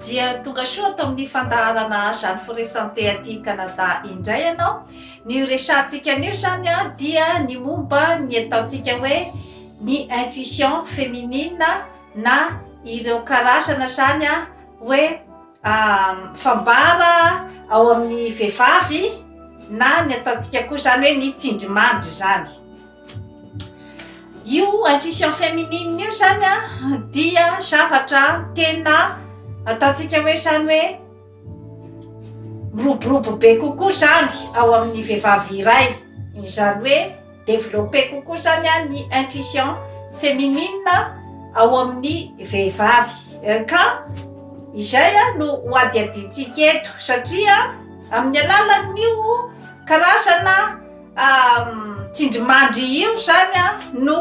Dia tonga soa ato amin'ny fandaharana Jeanne Foresante aty Canada indray ianao. Ny resahantsika anio izany dia ny momba ny ataontsika hoe ny intuition féminine na ireo karazana izany hoe fambara ao amin'ny vehivavy na ny ataontsika koa izany hoe ny tsindrimandry izany. Io intuition féminine io zany a dia zavatra tena ataontsika hoe zany hoe miroborobo be kokoa zany ao amin'ny vehivavy iray izany hoe developpe kokoa zany a ny intuition féminine ao amin'ny vehivavy ka izay a no ho adihadiantsika eto satria amin'ny alalan'io karazana Tsindrimandry io zany a no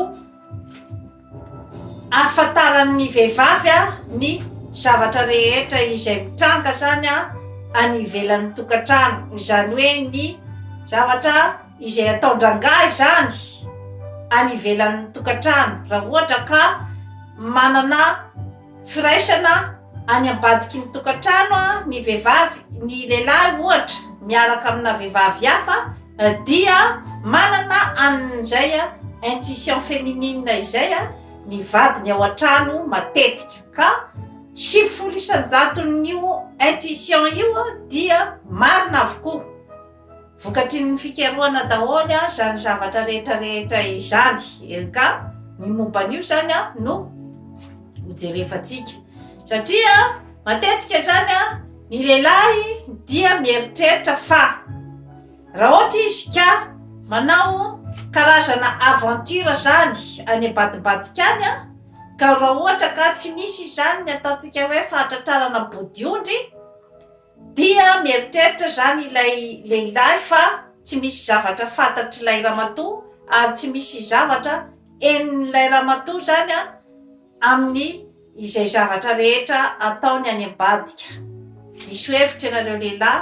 ahafantaran'ny vehivavy a ny zavatra rehetra izay mitranga zany a any ivelan'ny tokantrano izany hoe ny zavatra izay ataon-drangahy zany any ivelan'ny tokantrano raha ohatra ka manana Firaisana any ambadiky ny tokantrano ny vehivavy, ny lehilahy ohatra miaraka amina vehivavy hafa dia manana an'izay intuition féminine izay ny vadiny ao an-trano matetika ka sivifolo isan-jaton'io intuition io dia marina avokoa. Vokatry ny fikarohana daholo izany zavatra rehetra rehetra izany. Eh, ka ny momba an'io izany no hojerevantsika. Satria matetika izany ny lehilahy dia mieritreritra fa raha ohatra izy ka manao karazana aventure zany any ambadimbadika any a ka raha ohatra ka tsy misy izany ny ataontsika hoe fahatratrarana bodiondry Dia mieritreritra izany ilay lehilahy fa tsy misy zavatra fantatr'ilay ramatoa ary tsy misy zavatra henon'ilay ramatoa izany amin'ny izay zavatra rehetra ataony any ambadika. Diso hevitra ianareo lehilahy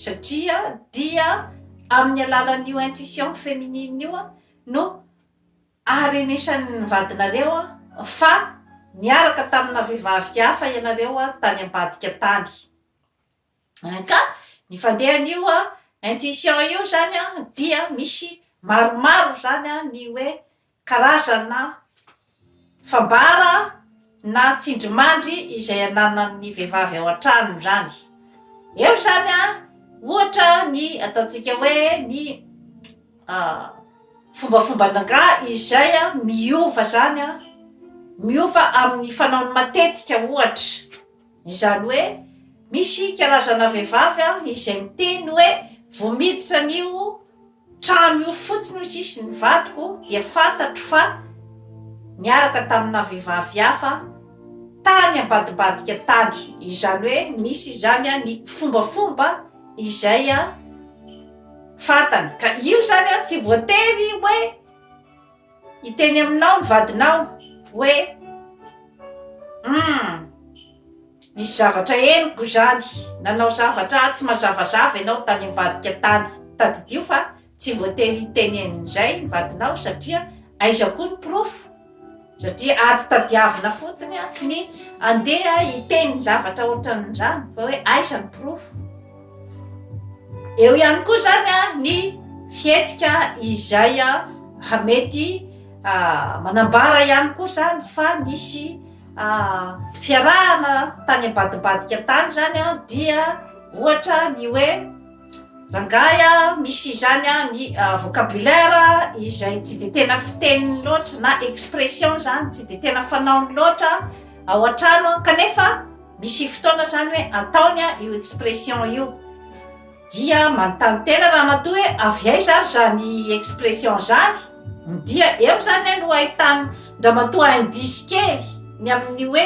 satria dia amin'ny alalan'io intuition féminine io no Aharenesan'ny vadinareo fa niaraka tamina vehivavy hafa ianareo tany ambadika tany. Ka ny fandehan'io intuition io izany dia misy maromaro izany ny hoe karazana fambara. Na tsindrimandry izay ananan'ny vehivavy ao an-trano izany. Eo izany ohatra ny ataontsika hoe ny fombafomban'angaha izay miova izany, miova amin'ny fanaony matetika ohatra, izany hoe misy karazana vehivavy izay miteny hoe vao miditra anio. Trano io fotsiny hoy sisy ny vadiko dia fantatro fa niaraka tamina vehivavy hafa tany ambadibadika tany. Izany hoe misy izany ny fombafomba izay fantany ka io izany tsy voatery hoe. Hiteny aminao ny vadinao hoe, Humm! Misy zavatra henoko izany. Nanao zavatra tsy mazavazava ianao tany ambadika tany. Tadidio fa tsy voatery hiteny an'izay ny vadinao satria aiza koa ny porofo? Satria ady tadiavina fotsiny ny handeha hiteny zavatra ohatran'izany fa hoe aiza ny porofo? Eo ihany koa zany a ny fihetsika izay a raha mety manambara ihany koa zany fa nisy a fiarahana tany ambadimbadika tany zany a dia ohatra ny hoe rangahy a misy izany a ny vocabulaire izay tsy de tena fiteny loatra na expression zany tsy de tena fanaony loatra ao an-trano kanefa Misy fotoana zany hoe ataony an io expression io dia manontany tena ramatoa hoe avy aiza ary zany expression zany dia eo zany no ahitany ndramatoa indice kely ny amin'ny hoe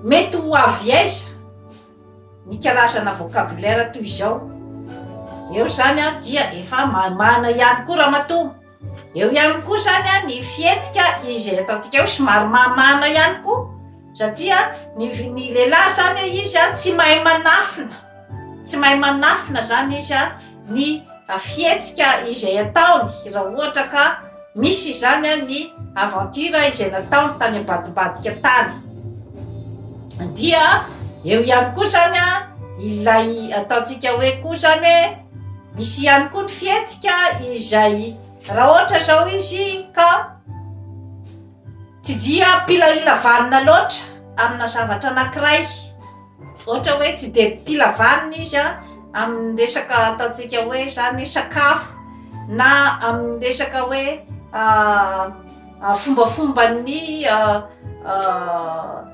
mety ho avy aiza ny karazana vocabulaire toy izao eo zany an dia efa mamana ihany koa ramatoa Eo ihany koa izany ny fihetsika izay ataontsika hoe somary mamana ihany koa satria ny ny lehilahy izany izy a tsy mahay manafina tsy mahay manafina izany izy a ny fihetsika izay ataony raha ohatra ka misy izany a ny aventure izay nataony tany ambadimbadika tany dia eo ihany koa izany a ilay ataontsika hoe koa izany hoe Misy ihany koa ny fihetsika izay raha ohatra izao izy ka tsy dia mpilaina vanina loatra amina zavatra anankiray. Ohatra hoe tsy dia mpila vanina izy an amin'ny resaka ataontsika hoe izany hoe sakafo na amin'ny resaka hoe fombafomban'ny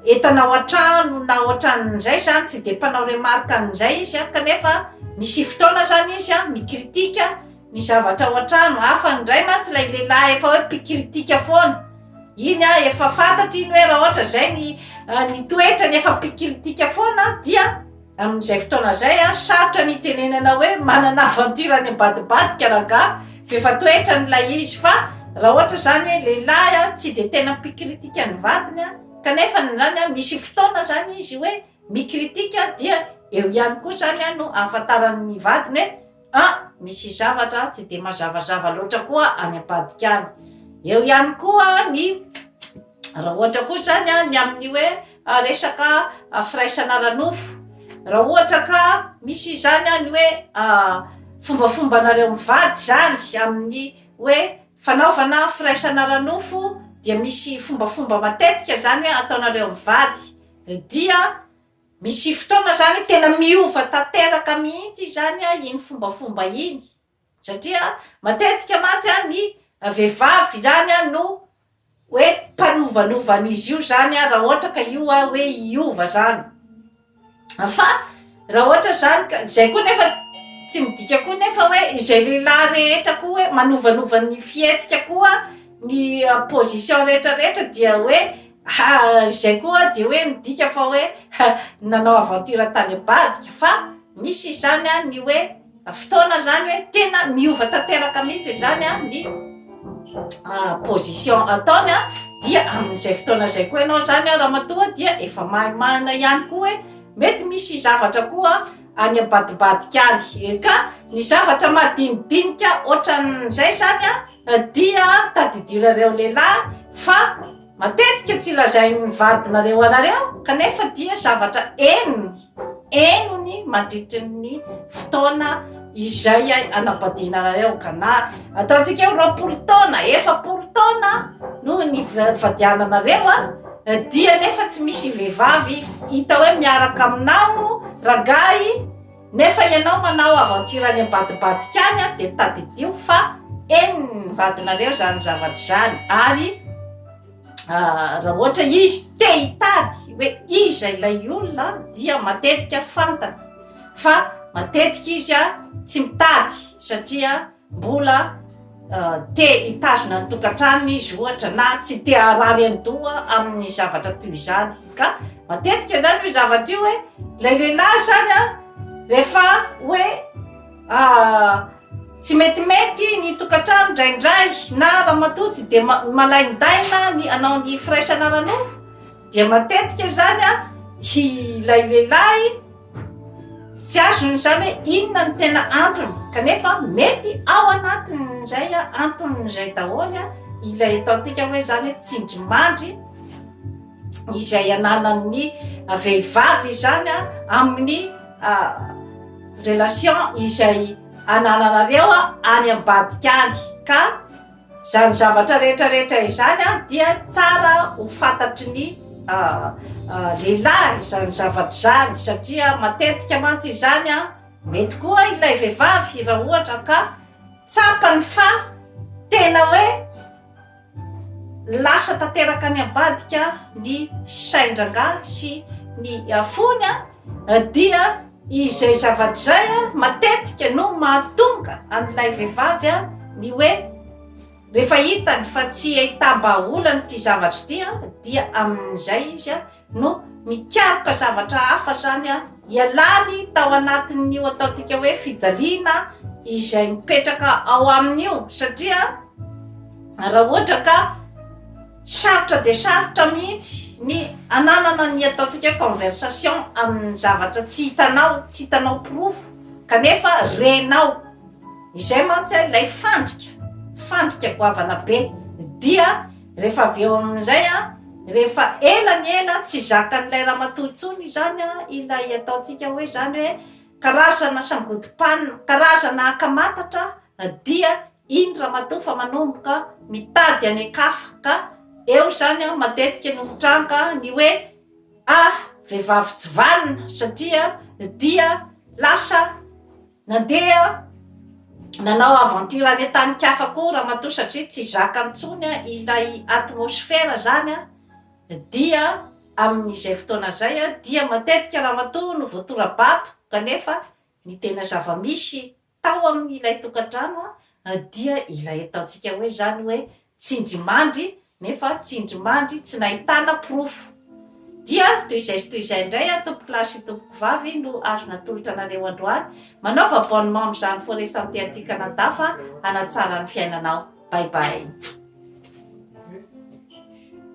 entana ao an-trano na ohatran'izay zany tsy dia mpanao remarque an'izay izy an, kanefa misy fotoana zany izy an mi-critique ny zavatra ao an-trano, hafa indray mantsy ilay lehilahy efa hoe mpi-critique foana, iny an efa fantatry iny hoe raha ohatra izay ny toetrany efa mpi-critique foana dia. Amin'izay fotoana izay, sarotra ny hitenenana hoe manana aventure any ambadibadika rangahy f'efa toetrany ilay izy fa raha ohatra izany hoe lehilahy tsy dia tena mpikritika ny vadiny kanefa izany misy fotoana izany izy hoe mikritika dia eo ihany koa izany no ahafantarany ny vadiny hoe ah misy zavatra tsy dia mazavazava loatra koa any ambadika any, eo ihany koa ny. Raha ohatra koa izany a, ny amin'ny hoe resaka firaisana ara-nofo, raha ohatra ka misy izany a, ny hoe fombafombanareo mivady izany amin'ny hoe fanaovana firaisana ara-nofo dia misy fombafomba matetika izany hoe ataonareo mivady, dia misy fotoana izany tena miova tanteraka mihitsy izany a, iny fombafomba iny. Satria matetika mantsy ny vehivavy izany no hoe mpanovanova an'izy io izany raha ohatra ka io hoe hiova izany. Fa raha ohatra izany ka, izay koa nefa tsy midika koa nefa hoe izay lehilahy rehetra koa hoe manovanova ny fihetsika koa, ny position rehetra rehetra dia hoe izay koa dia hoe midika fa hoe nanao aventure tany ambadika. Fa misy izany ny hoe. Fotoana zany hoe tena miova tanteraka mihitsy izany ny position ataony dia amin'izay fotoana izay koa ianao zany ramatoa dia efa mahay marina ihany koa hoe mety misy zavatra koa any ambadimbadika any eh, ka ny zavatra madinidinika ohatran'izay zany dia tadidianareo lehilahy fa Matetika tsy lazain'ny vadinareo anareo kanefa dia zavatra henony henony mandritry ny fotoana izay anabadiana anareo ka na ataontsika hoe roapolo taona efapolo taona no nivadiananareo a dia nefa tsy misy vehivavy hita hoe miaraka aminao rangahy Nefa ianao manao aventure any ambadibadika any dia tadidio fa eny vadinareo izany zavatra izany ary raha ohatra izy te hitady hoe iza ilay olona dia matetika fantany fa matetika izy a tsy mitady satria Mbola te hitazona ny tokantranony izy ohatra na tsy te harary an-doha amin'ny zavatra toy izany ka matetika izany io zavatra io hoe ilay lehilahy izany a rehefa hoe tsy metimety ny tokantrano indraindray na ramatoa tsy dia ma- malain-daina ny hanao ny firaisana ara-nofo dia matetika izany a ilay lehilahy Tsy azony izany hoe inona no tena antony, kanefa mety ao anatin'izay antony izay daholo ilay ataontsika hoe izany hoe tsindrimandry izay ananan'ny vehivavy izany amin'ny relation izay anananareo any ambadika any ka Izany zavatra rehetra rehetra izany an dia tsara ho fantatry ny lehilahy izany zavatra izany satria matetika mantsy izany an mety koa ilay vehivavy raha ohatra ka tsapany fa tena hoe lasa tanteraka any ambadika ny sain-drangahy sy ny fony an. Dia izay zavatra izay matetika no mahatonga an'ilay vehivavy ny hoe rehefa hitany fa tsy ahitam-bahaolana ity zavatra ity dia amin'izay izy no mikaroka zavatra hafa izany hialany tao anatin'io ataontsika hoe fijaliana izay mipetraka ao aminy io satria raha ohatra ka Sarotra dia sarotra mihitsy ny ananana ny ataontsika hoe conversation amin'ny zavatra tsy hitanao, tsy hitanao porofo kanefa renao. Izay mantsy ilay fandrika, fandrika goavana be. Dia rehefa avy eo amin'izay, rehefa ela ny ela tsy zakan'ilay ramatoa intsony izany ilay ataontsika hoe izany hoe karazana sangodim-panina, karazana akamatatra dia. Iny ramatoa fa manomboka mitady any an-kafa ka eo izany an matetika no mitranga ny hoe ah vehivavy tsy vanona satria dia lasa nandeha nanao aventure any an-tanin-kafa koa ramatoa satria tsy zaka intsony ilay atmosphère izany an dia amin'izay fotoana izay dia matetika ramatoa no voatora-bato kanefa ny tena zava-misy tao amin' ilay tokantrano dia ilay ataontsika hoe izany hoe tsindrimandry nefa tsindrimandry tsy nahitana porofo. Dia toy izay sy toy izay indray an tompoko lahy sy tompoko vavy no azo natolotra anareo androany. Manaova abonnement amin'izany Forêt Santé aty Canada fa hanatsara ny fiainanao. Bye bye.